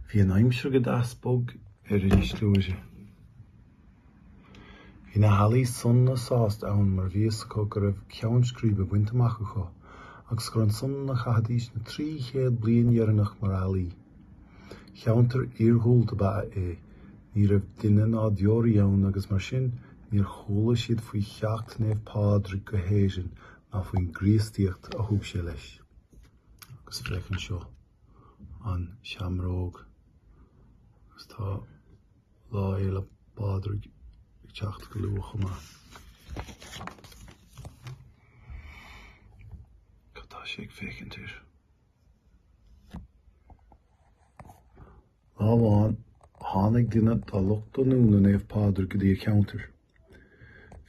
Bhí an aimsir go deas bog ar Inis Gluaire. Bhí na healaí sona sásta ann mar bhí fhios acu go raibh ceann scríbe bainte amach acu agus gur ansan a chaithfidís na trí chéad bliain dheireanach mar ealaí. Ceantar iargúlta ba ea é, ní raibh duine ná deoraí ann agus mar sin níor chuala siad faoi theacht Naomh Pádraig go hÉirinn ná faoin gCríostaíocht a thug sé leis. agus féach anseo an seamróg agus tá Lá Fhéile Pádraig ag teacht go luath chomh maith. Cad tá sé ag féachaint air? Lá amháin tháinig duine dá lucht leanúna Naomh Pádraig go dtí an ceantar.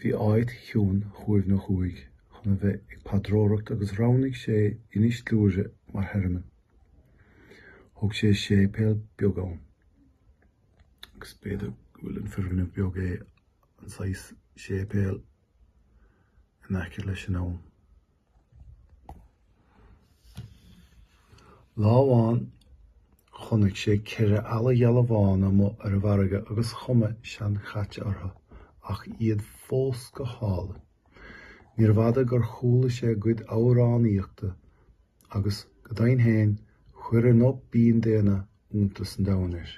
Bhí áit chiúin shuaimhneach uaidh chun a bheith ag paidreoireacht agus roghnaigh sé Inis Gluaire mar thearmann. Thóg sé séipéal beag ann. Agus b'fhéidir go bhfuil an foirgneamh beag é an saghas séipéal in aice leis an abhainn. Lá amháin chonnaic sé ceithre eala gheala bhána amuigh ar an bhfarraige agus cuma seanchaite ortha ach iad fós go hálainn. Níorbh fhada gur chuala sé a gcuid amhránaíochta agus, go deimhin fhéin, chuir a nguth binn daonna iontas an domhain air.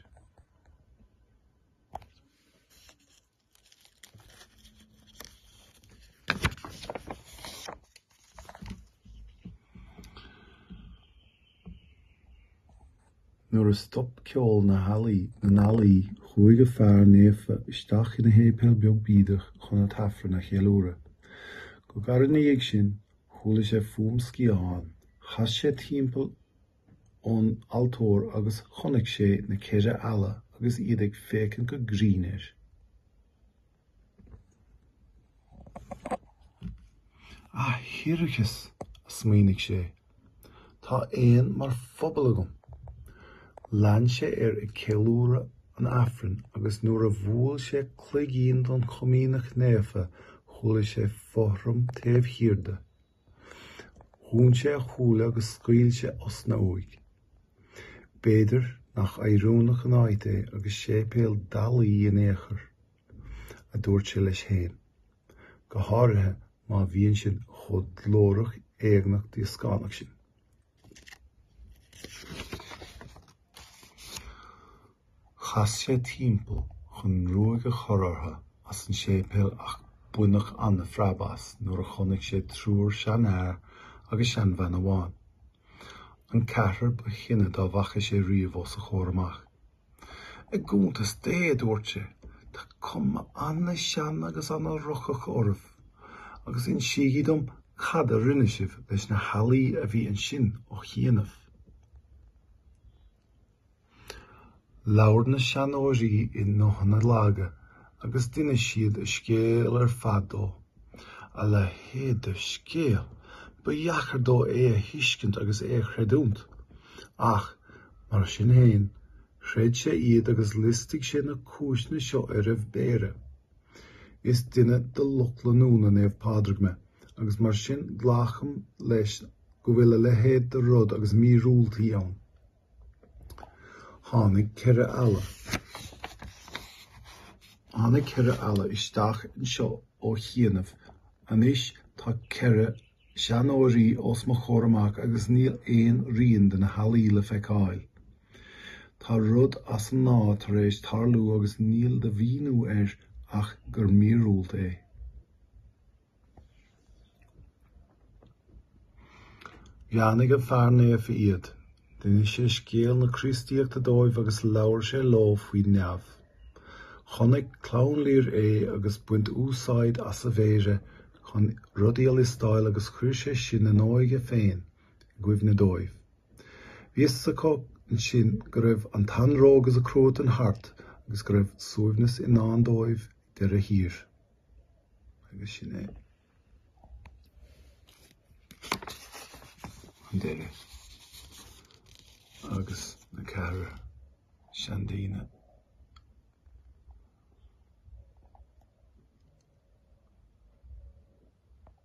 Nuair a stop ceol na n-ealaí chuaigh an fear naofa isteach ina shéipéal beag bídeach chun an tAifreann a cheiliúradh. Go gairid ina dhiaidh sin chuala sé fuaim sciathán. Chas sé timpeall ón altóir agus chonaic sé na ceithre eala agus iad ag féachaint go grinn air. A thiarcais! a smaoinigh sé. Tá éin mar phobal agam! Lean sé air ag ceiliúradh an Aifrinn agus nuair a bhuail sé cloigín don Chomaoineach Naofa chuala sé fothram taobh thiar de. Dhún sé a shúile agus scaoil sé osna uaidh. B'fhéidir nach oiriúnach an áit é agus séipéal d'ealaí in aon chor, a dúirt sé leis féin. Go háirithe má bhíonn sin chomh glórach éagnach díoscánach sin. Chas sé timpeall chun ruaig a chur orthu as an séipéal ach baineadh an-phreab as nuair a chonaic sé triúr seanfhear agus seanbhean amháin, an ceathrar ba shine dá bhfaca sé riamh os a chomhair amach. I gcuntas Dé, a dúirt sé, tá cuma an-sean agus an-rocach oraibh agus insígí dom cad a rinne sibh leis na healaí a bhí ansin ó chianaibh. Labhair na seanóirí i nguthanna laga agus d'inis siad a scéal ar fad dó. A leithéid de scéal! Ba dheacair dó é a thuiscint agus é a chreidiúnt. Ach, mar sin féin, chreid sé iad agus liostaigh sé na cúiseanna seo ar a mhéara. Is duine de lucht leanúna Naomh Pádraig mé agus mar sin glacaim leis go bhfuil a leithéid de rud agus míorúiltí ann. Tháinig ceithre eala. Tháinig ceithre eala isteach anseo ó chianaibh. Anois tá ceithre seanóirí os mo chomhair amach agus níl aon rian de na healaí le feiceáil. Tá rud as an ngnáth tar éis tarlú agus níl de mhíniú air ach gur míorúilt é. Bheannaigh an Fear Naofa iad, d'inis sé scéal na Críostaíochta dóibh agus labhair sé leo faoi neamh. Chonaic Clann Lir é ag baint úsáid as a mhéara chun rudaí a liostáil agus chuir sé sin a n-óige féin i gcuimhne dóibh. Bhí fhios acu ansin go raibh an t-anró agus an cruatan thart agus go raibh suaimhneas i ndán dóibh ag deireadh thiar. agus sin é an deireadh agus na ceithre seandaoine